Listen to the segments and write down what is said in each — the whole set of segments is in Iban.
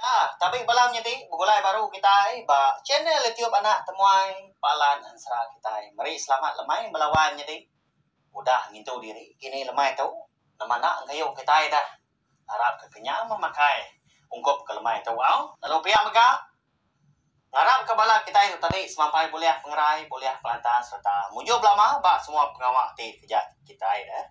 Nah, tapi bala menyiti begulai baru kitai ba channel YouTube anak temuai Palan Ensera kitai. Meri selamat lemai bala wai menyiti udah ngintu diri kini lemai tu nama enda engkayu kitai dah. Arap ke kenyang memakai ungkup ke lemai tu au. Lalu pia mega ngarap ke bala kitai tu tadi semampai bulih pengerai, bulih pelantang sereta mujur belama ba semua pengawa ti keja kitai dah.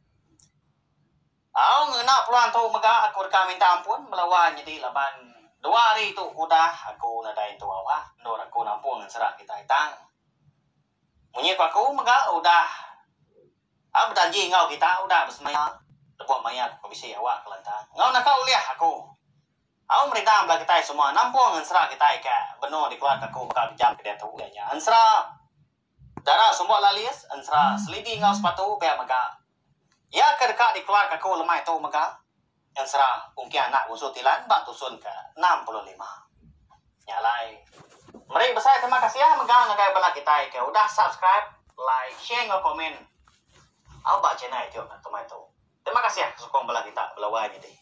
Au ngena peluang tu mega aku deka minta ampun bala wang nyadi laban dua hari tu udah aku nadai entu awak endur aku nampung ensera kitai tang munyi ku aku mega udah a bejanji enggau kita udah besemaya lebuh maya ku bisi awak kelantang enggau naka ulih aku. Au merintah bala kitai semua nampung ensera kitai ka benung dikeluar ka aku baka jam ke diatu iya nya ensera dara sumbok lalis ensera selidi enggau sepatu pia mega. Iya ke deka dikeluarka aku lemai tu mega ensera ungking anak Busu Tilan ba tusun ke enam puluh lima. Nya alai, meri besai terima kasih mega ngagai bala kitai ke udah subscribe, like, share enggau komen ba channel youtube kemai tu. Terima kasih sukung bala kita bela wai nyadi.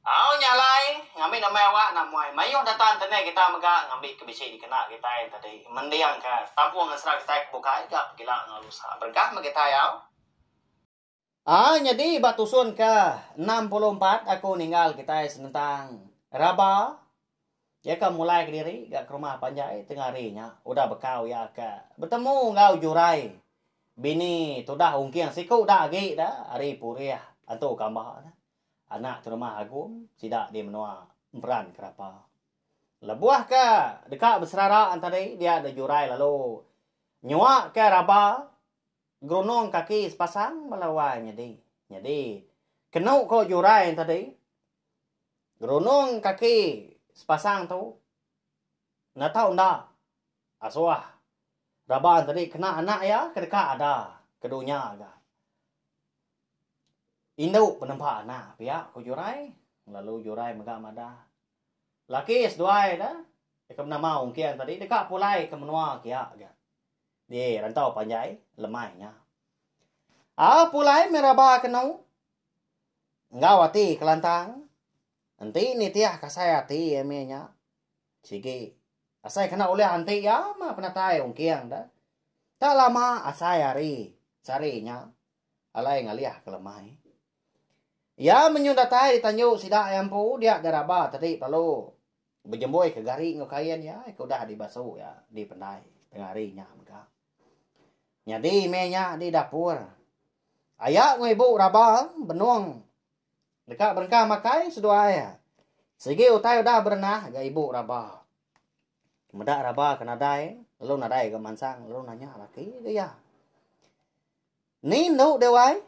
Au nya alai, ngambi nama awak enda muai mayuh data internet kitai mega ngambi ke bisi dikena kitai tadi mendingka tampung ngesera kitai ke bukai ga pegila enggau lusa. Beregah meh kitai au. Aa nyadi ba tusun ke enam puluh empat aku ninggal kitai senentang raba iya ke mulai kediri ga ke rumah panjai tengah hari nya udah bekau iya ke betemu enggau jurai bini tudah ungking siku da agi da ari Purih antu Kamba. Anak Terumah Agum sida di menua Emperan Kerapa. Lebuh ke deka beserara entadi dia deh jurai lalu nyua ke raba gerunung kaki sepasang bala wai nyadi. Nyadi kenu ko jurai entadi gerunung kaki sepasang tu enda tau enda asuh raba entadi kena anak iya ke deka ada ke dunya ga. Indu penempa anak pia ku Jurai lalu Jurai mega madah. Laki seduai da deka menama ungking tadi deka pulai ke menua kia ga. Di rantau panjai lemai nya. Ah pulai meh raba kenu enggau ati kelantang enti nitih kasai ati iya meh nya sigi asai kena ulih anti iya mah penatai ungking da tak lama asai hari sehari nya. Alai ngalih ke lemai. Iya menyun datai di tanju sida iya empu dia di raba tadi lalu bejemboi ke gari enggau kain iya ke udah dibasu iya dipendai tengah hari nya mega. Nyadi meh nya di dapur. Aya enggau ibu raba benung deka berengkah makai seduai. Sigi utai udah berenah ga ibu raba. Meda raba ke nadai, lalu nadai ga mansang, lalu nanya laki ke iya. Ni endu deh wai?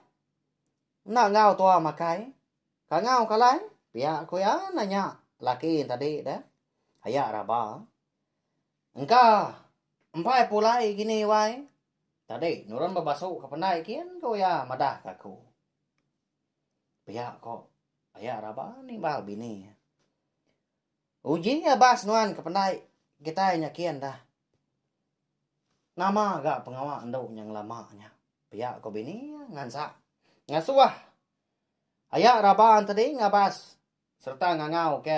Enda enggau tua makai. Kangau kalai? Pia ku iya nanya laki tadi deh. Aya raba. Engka empai pulai gini wai. Tadi nurun bebasu ke pendai kin ku iya madah ke aku. Pia ko aya raba nimbal bini. Uji nya bas nuan ke pendai kitai nya kin da. Nama ga pengawa endu nya ngelama nya pia ko bini ngansa ngasuh aya raban tadi ngabas serta ngangau ke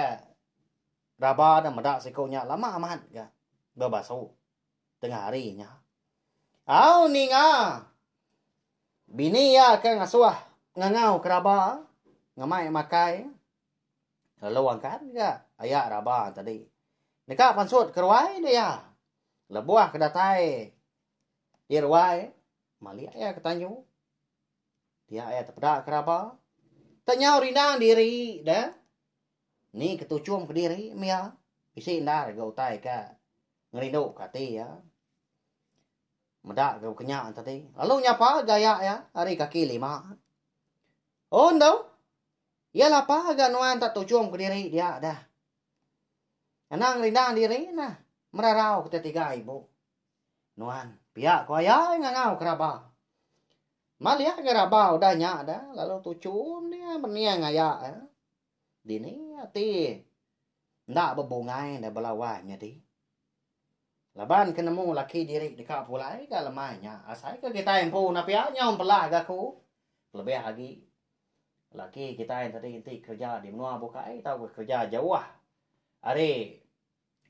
raba da meda siku nya lama amat ga bebasu tengah hari nya. Au ninga bini iya ke ngasuh ngangau ke raba ngemai makai. Lalu angkat ga aya raba tadi. Deka pansut ke ruai enda iya. Lebuh ke datai di ruai malik iya ke tanju. Dia iya tepeda ke raba. Tak nyau rindang diri de. Ni ke tuchum ke diri meh iya. Bisi endar ga utai ke ngerindu ke ati iya. Meda ga kenya tadi. Lalu nyapa ga aya iya ari kaki lima. Un tu. Iya lapa ga nuan tak tujung ke diri dia dah. Anang rindang diri nah merarau kita tiga ibu. Nuan, pia ko ayai ngangau ke raba. Malih ga raba udah nya dah lalu tuchum dia mening aya eh. Dini ati enda bebungai dah bela wai nyadi. Laban ke nemu laki diri deka pulai ga lemai nya asai ke kitai empu na pia nyau empelah ga ku. Kelebih agi Laki kitai tadi enti kereja di menua bukai tauka kereja jauh ari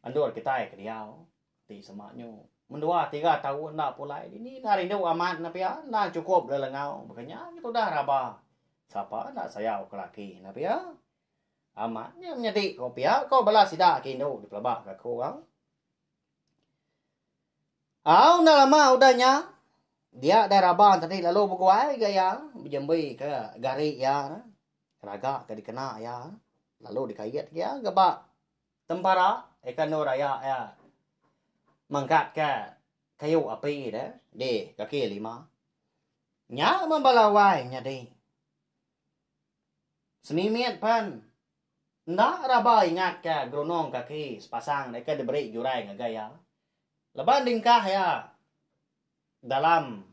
endur kitai ke diau ti sema nyu mendua tiga taun enda pulai dini enda rindu amat ne pia enda chukup lelengau baka nya agi tudah raba sapa enda sayau ke laki ne pia amat nya menyadi ko pia ko bala sida ke indu dipelaba ke aku au. Au enda lama udah nya dia dai raban tadi lalu beguai gak iya bejembi ke gari iya raga ke dikena iya lalu dikait iya gak ba tempara ikan endur aya iya mengkat ke kayu api deh di kaki lima nya mun bala wai nyadi semimit pen. Enda raba ingatka gerunung kaki sepasang deka diberi jurai ngagai iya leban dingkah iya dalam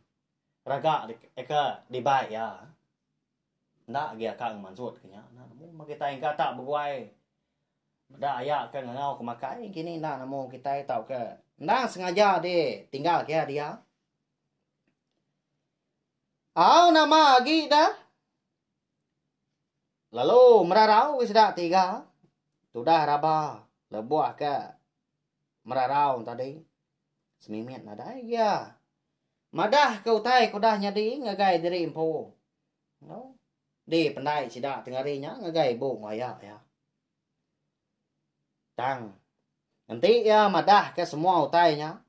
raga deka dibai iya. Enda agi aka enggau mansut ke nya enda nemu meh kitai engka tak beguai meda aya ke ngangau ke makai kini enda nemu kitai tauka endang sengaja di tinggal kiya dia. Au nama agi da. Lalu merarau ke sida tiga tudah raba lebuh ke merarau tadi semimit nadai iya madah ke utai ke udah nyadi ngagai diri empu no di pendai sida tengari nya ngagai ibu maya iya tang enti iya madah ke semua utai nya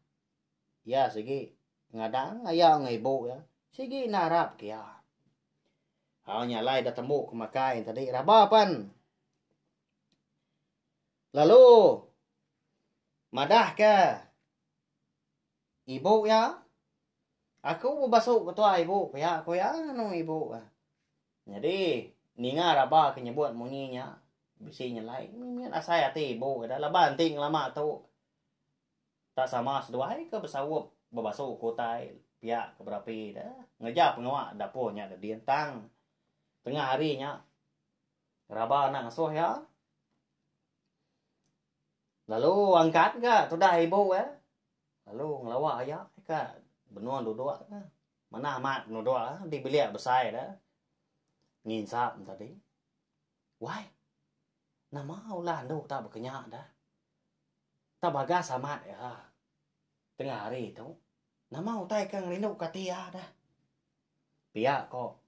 iya sigi ngadang aya ngan ibu iya sigi narap ke iya. Au nya alai dah tembu ke makai tadi raba pan. Lalu madah ke ibu ya. Aku bebasu ke tua ibu pia ku ya anu ibu. Jadi ninga raba ke nyebut munyi nya bisi nyelai asai ati ibu ida laban ti ngelama tu. Tak sama seduai ke besaup bebasu ke utai pia ke berapi de ngereja pengawa dapur nya ke din tang tengah hari nya raba anak ngesuh iya lalu angkat ga tudah ibu iya lalu ngelawa iya ka benung duduk ka manah amat penuduk di bilik besai de nginsap tadi wai nama ulah andu tak bekenya de Tang bagas amat iya. Tengah hari tu, nama utai ke ngerindu ke ati iya dah. Pia ko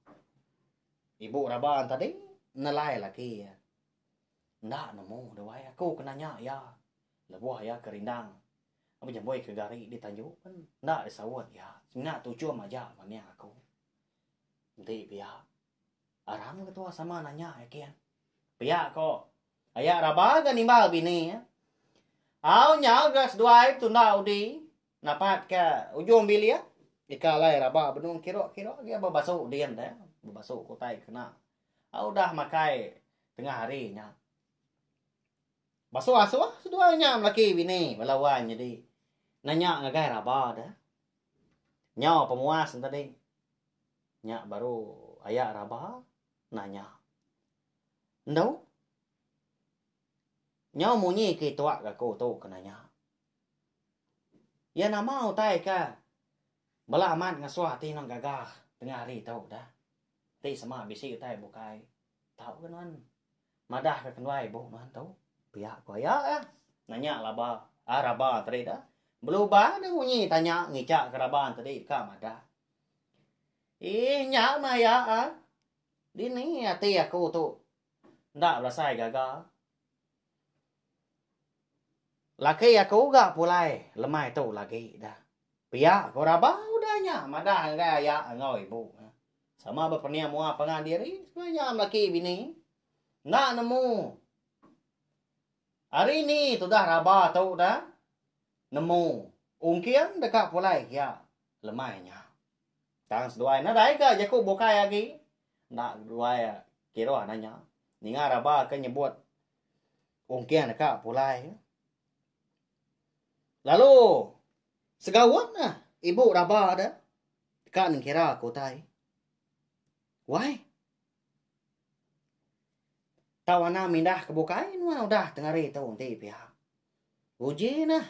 ibu raban tadi nelai laki iya. Enda nemu duai aku ke nanya iya lebuh iya ke rindang bejembui ke gari di tanju pen enda disaut iya. Singga tuchum aja manik aku. Enti pia. Arang ketua sama nanya ya kian. Pia ko. Aya raba ga nimbal bini ya. Au nya ga seduai tunda udi napat ke ujung bilik. Ika alai raba benung kiro-kiro dia bebasu din dia. Bebasu kutai kena. Au dah makai tengah hari nya. Basu asuh seduai nya melaki bini bala wan jadi. Nanya ngagai raba dia. Nyau pemuas tadi. Nya baru aya raba nanya. Endu? Nyau munyi ke ituak aku tu ke nanya. Iya nama utai ke bela amat ngasuh ati nang gaga tengah hari tu dah. Ti sema bisi utai bukai. Tau ke nuan madah ke kenuai buk nuan tu? Pia ku aya ka? Nanya laba ah raba tadi da. Belubang dah munyi tanya ngica ke raba tadi deka madah. Ih nya meh aya ah. Dini ati aku tu enda belasai gaga. Laki aku ga pulai lemai tu lagi da. Pia ko rabau da nya madah ngagai aya enggau ibu nya. Sama ba pening mua pangan diri sekula nya melaki bini. Enda nemu ari ni tudah raba tu da nemu ungking deka pulai kia lemai nya. Tang seduai nadai ka jaku bukai agi. Enda duai kiruh da nya. Ninga raba ke nyebut Ungking deka pulai. Lalu segaun nah ibu raba ada deka nengkira ke utai. Wai. Tau ana mindah ke bukai nuan udah tengari tu enti pihak. Uji nah.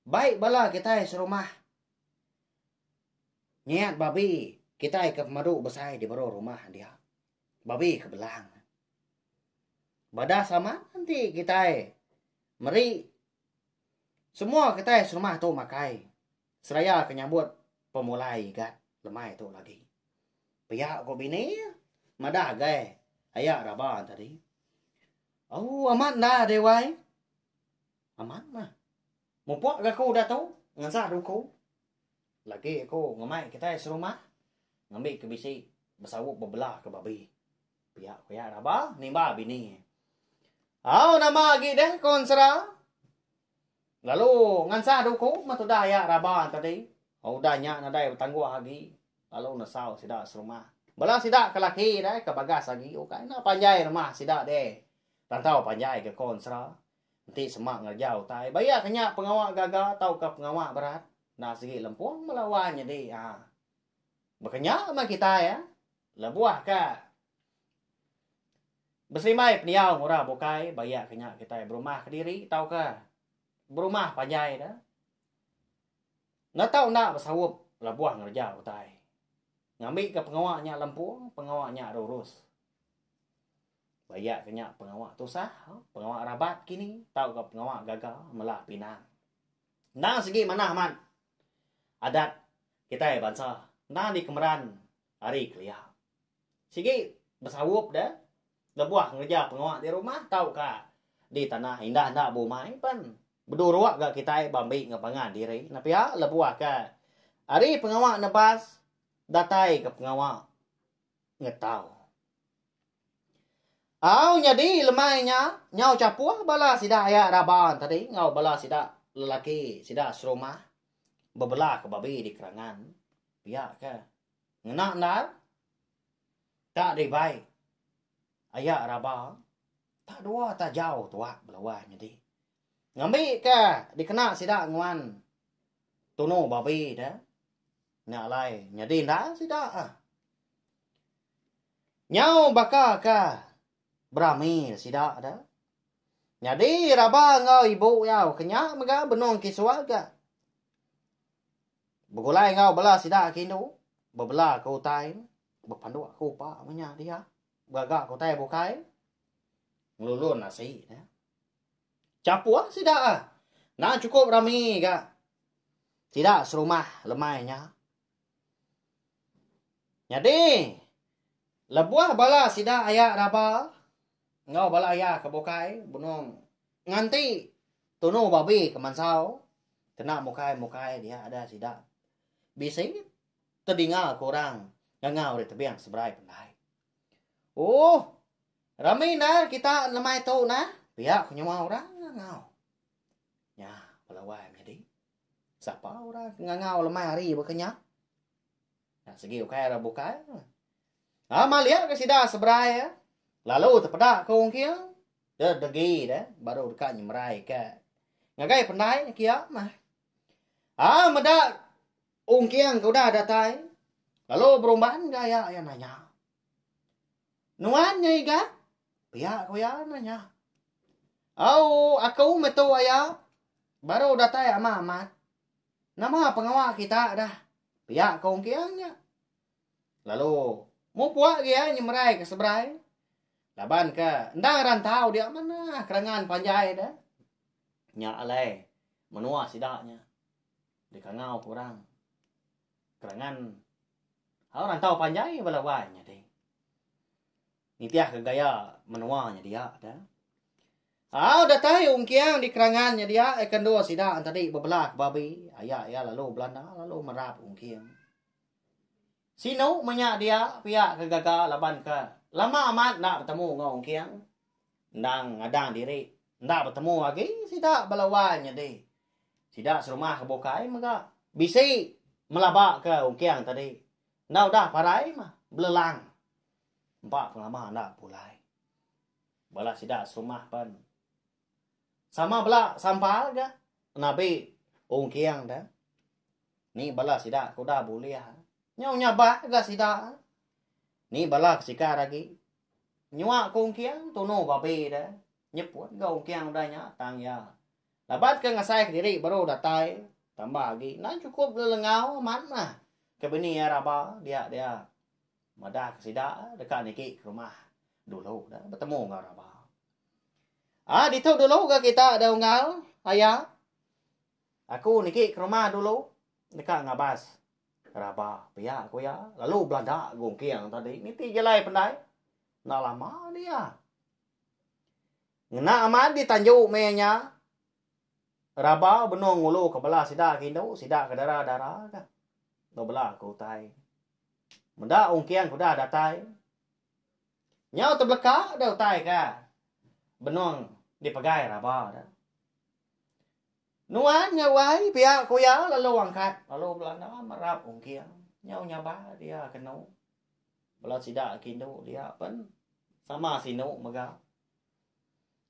Baik bala kita serumah. Niat babi kita ke pemadu besai di baru rumah dia. Babi ke belang. Bada sama nanti kitai meri semua kitai serumah tu makai seraya ke nyambut pemulai igat lemai tu lagi. Pia ko bini madah gai aya raba tadi. Oh amat dah dewai. Amat mah. Mupuk ga ku datu ngensa duku lagi aku ngemai kitai serumah ngambi ke bisi besaup bebela ke babi. Pia ku iya raba nimba bini iya. Au nama agi deh ku ensera lalu ngensa duku meh tudah iya raba tadi. Udah nya nadai betangguh agi lalu nesau sida serumah. Bala sida ke laki deh ke bagas agi ukai enda panjai rumah sida deh rantau panjai ga ku ensera. Enti sema ngereja utai bayak ke nya pengawa gaga tauka pengawa berat enda sigi lempung mela wai nyedi a. Baka nya meh kitai a lebuh ka beserimbai pendiau ngura bukai bayak ke nya kitai berumah kediri tauka berumah panjai da netau enda besaup lebuh ngereja utai. Ngambika pengawa nya lempung pengawa nya rurus. Bayak ke nya pengawa tusah, pengawa rabat kini tauka pengawa gaga melah pinang. Endang segi manah amat adat kitai bansa endang dikemeran ari kelia. Sigi besaup deh lebuh ngereja pengawa di rumah tauka di tanah indah enda bumai pen. Beduruk ga kitai ba mbi enggau pangan diri nya pia lebuh ke ari pengawa nebas datai ke pengawa ngetau. Au nyadi lemai nya nyau chapuh bala sida aya raban tadi enggau bala sida lelaki sida serumah bebela ke babi di kerangan pia ke ngena endar ka dibai aya raba tak dua tak jau tuak belawai nyadi ngambi ke dikena sida nguan tunu babi de nya alai nyadi endar sida. Nyau baka ka berami sida da. Nyadi raba enggau ibu iya ke nya mega benung ke suarga. Begulai enggau bala sida ke indu, bebela ke utai, bepanduk ke upa meh nya dia. Begaga ke utai bukai, ngelulun asi dia. Chapuh sida ah. Endang chukup rami ga sida serumah lemai nya. Nyadi, lebuh bala sida aya raba enggau bala aya ke bukai benung nganti tunu babi ke mansau kena mukai-mukai dia ada sida bisi tedinga ke orang ngangau ari tebing seberai pendai. Ooh, rami endar kita lemai tu nah, pia ke nyuwa orang ngangau. Nya bala wai menyadi. Sapa orang ke ngangau lemai hari baka nya? Nah, segi ukai orang bukai. Ah, malik ke sida seberai. Eh. Lalu terpeda ke orang kia. Dia degi dia. Baru dekat nyemerai ke. Ngagai pendai kia. Mah. Ah, meda orang kia ke udah datai. Lalu berumban ke ayak yang nanya. Nuan nya iga? Pia ku iya anu nya. Au, aku metu aya baru datai ama amat. Nama pengawa kita dah? Pia ku Ong Kiang nya. Lalu mupuk agi iya nyemerai ke seberai. Laban ke endang rantau dia manah kerangan panjai deh. Nya alai menua sida nya. Dikangau ku orang. Kerangan hau rantau panjai bala wai nyadi. Nitih ke gaya menua nyedia da. Au datai Ong Kiang di Kerangan nya dia eh kendu sida tadi bebela ke babi. Aya iya lalu Belanda lalu merap Ong Kiang. Sinu menya dia pia ke gaga laban ke lama amat enda betemu enggau Ong Kiang. endang ngadang diri enda betemu agi sida bala wai nyadi sida serumah ke bukai mega bisi melaba ke ungking tadi enda udah parai mah belelang empa pengelama enda pulai bala sida serumah pen sama bela sampal ga nabi ungking da ni bala sida ke udah bulih nyau nyabak ga sida ni bala ke sikar agi. Nyua ke ungking tunu babi de nyeput ga ungking udah nya tang iya. Labat ke ngasai ke diri baru datai tambah agi enda cukup lelengau amat meh ke bini iya raba dia dia madah ke sida deka niki ke rumah dulu de betemu enggau raba. Ah ditu dulu ga kita de unggal aya Aku niki kerumah dulu deka ngabas raba pia ku iya lalu belaga gungking tadi niti jalai pendai enda lama dia. Ngena amat di tanju meh iya nya raba benung ngulu ka bala sida ke indu sida ke dara-dara ka ba bala ke utai. Meda ungking ke udah datai nyau tebeleka deh utai ka benung dipegai raba. Nuan nya wai pia ku iya lalu angkat lalu belanda merap ungking nyau nyabal dia kenu bala sida ke indu dia pen sama sinu mega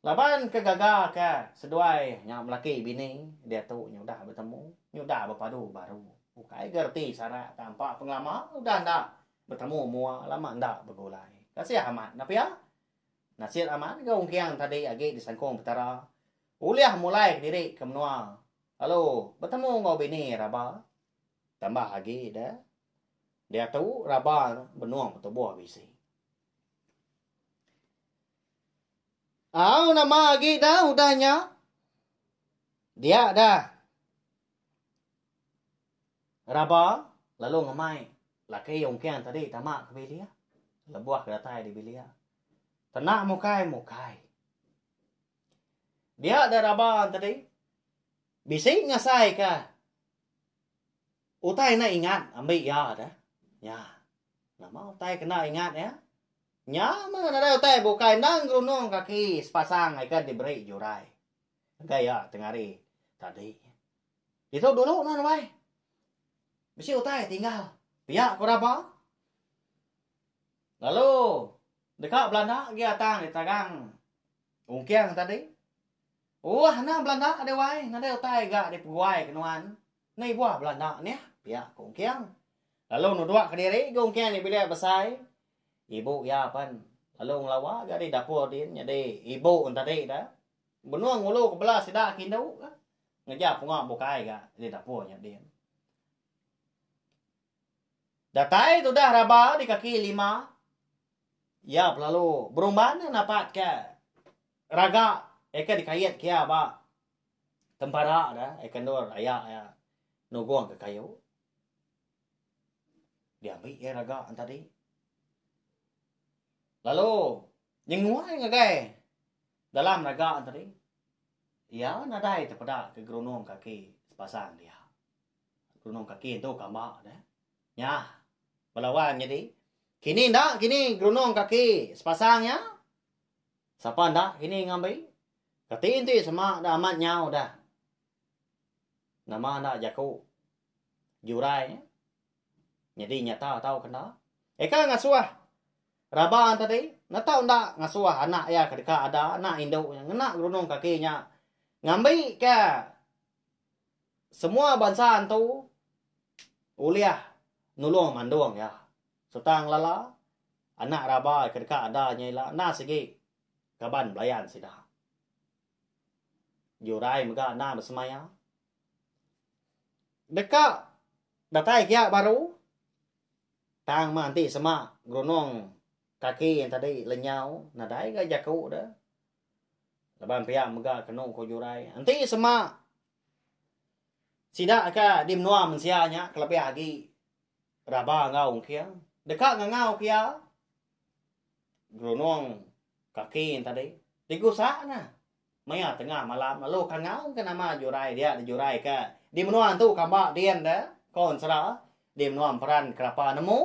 laban ke gaga ke seduai nya belaki bini diatu udah betemu udah bepadu baru ukai gereti sarak tampa pengelama udah enda betemu mua lama enda begulai kasih amat dah pia. Nasit amat enggau ungking tadi agi disangkung Petara ulih mulai kediri ke menua lalu betemu enggau bini raba. Tambah agi da diatu raba benung betubuh bisi. Au nama agi da udah nya? Dia dah. Raba lalu ngemai laki ungking tadi tama ke bilik. Lebuh ke datai di bilik. Tena mukai, mukai. Dia ada raba tadi. Bisi ngasai ke. Utai nak ingat ambil ya ada. Ya. Nama utai kena ingat ya. Nya mana ada utai bukai nang gerunung kaki sepasang ikat diberi jurai. Engka iya tengari tadi. Ditu dulu nuan wai. Bisi utai tinggal. Pia ku raba. Lalu deka belanda agi atang di tagang ungking tadi. Uah anang belanda deh wai nadai utai ga dipeguai ke nuan. Ni buah belanda nih pia ku ungking. Lalu nuduk kediri ga ungking nya bilik besai. Ibu iya pen lalu ngelawa ga di dapur din nyadi ibu tadi dah. Benung ngulu ke bela sida ke indu ka. Ngeja punga bukai ga di dapur nya din. Datai tudah raba di kaki lima. Iya pelalu berumban napat ke raga eka di kait ke iya ba tempara da eka endur aya iya nugong ke kayu. Di ambi iya raga nya tadi. Lalu nyenguai ngagai. Dalam naga tadi, iya nadai tepeda ke gerunung kaki sepasang dia. Gerunung kaki tu kamba dah. Nya, bala wang nyadi. Kini enda kini gerunung kaki sepasang nya. Sapa enda kini ngambi? Kati enti sema dah amat nyau dah. Nama enda jaku jurai nya? Nyadi nyata tau kenda. Eka ngasuh raba tadi ne tau enda ngasuh anak iya ke deka ada anak indu nya ngena gerundung kaki nya ngambika semua bansa antu ulih nulung mandung iya sereta ngelala anak raba ke deka ada nya ila enda sigi kaban belayan sida. Jurai mega enda besemaya. Deka datai giya baru tang meh enti sema gerunung kaki yang tadi lenyau nadai ga jaku de laban pia mega kenu ko jurai enti sema sida ka di menua mensia nya kelebih agi raba enggau ungking deka ngangau ke iya gerunung kaki yang tadi digusa ne. Maya tengah malam lalu ka ngau ke nama jurai dia dijurai ka di menua tu kamba din de ko ensera di menua emperan kerapa nemu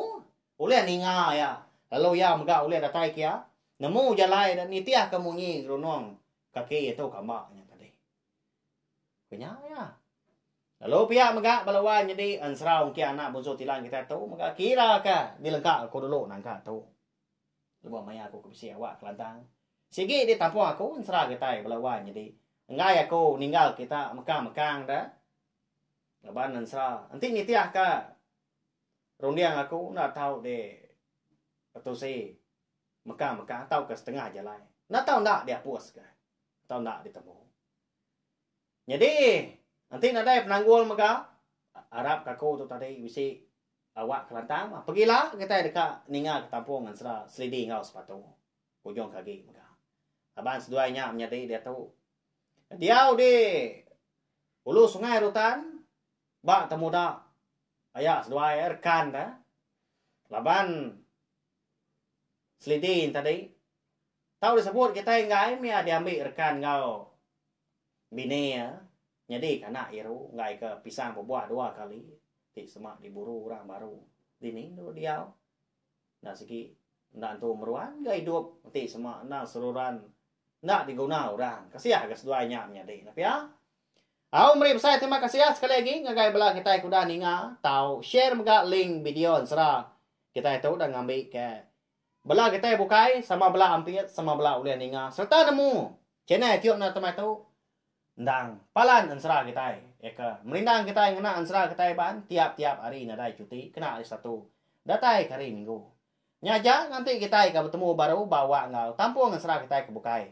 ulih ninga ia lalu ia mega ulih datai kia nemu jalai de nitih ka munyi ngerunong kaki tu kamba nya tadi. Ku nya ia. Lalu pia mega bala wai nyadi ensera ungki anak bunsu tilan kita tu mega kira ka di lengka ko dulu nangka tu. Lebuh maya aku ke bisi awak kelantang, sigi di tampung aku ensera kitai bala wan nyadi enggai aku ninggal kita mekang-mekang da laban ensera enti nitihka runding aku enda tau di tetusi mekang-mekang tauka setengah jalai. Enda tau enda diapuska tau enda ditemu. Nyadi, enti nadai penanggul mega, arap kaku tu tadi bisi awak kelantang bah. Pegila kitai deka ninga ketampung ensera selidi enggau sepatu ujung kagi mega. Laban seduai nya menyadi diatu. Diau di Ulu Sungai Rutan ba temuda aya seduai rekan da laban selidi yen tadi tau disebut kitai enggai mih iya diambi rekan enggau Bini iya nyedika anak Iru enggaika Pisang bebuah dua kali ti sema diburu orang baru dini endur diau. Enda sigi enda entu meruan ga idup enti sema endang seruran enda diguna orang. Kasiah ga seduai nya menyadi ne pia. Au meri besai terima kasih sekali agi ngagai bela kitai ke udah ninga tau share mega link video ensera kitai tu udah ngambi ke Bela getai bukai sama bela ampit sama bela ulih ninga sereta nemu channel tiu enda temai tu endang palan ensera kitai eka merindang kitai ngena ensera kitai baan tiap tiap hari nadai cuti kena hari satu datai ke hari minggu nya aja nganti kitai ka betemu baru ba awak enggau tampung ensera kitai ke bukai.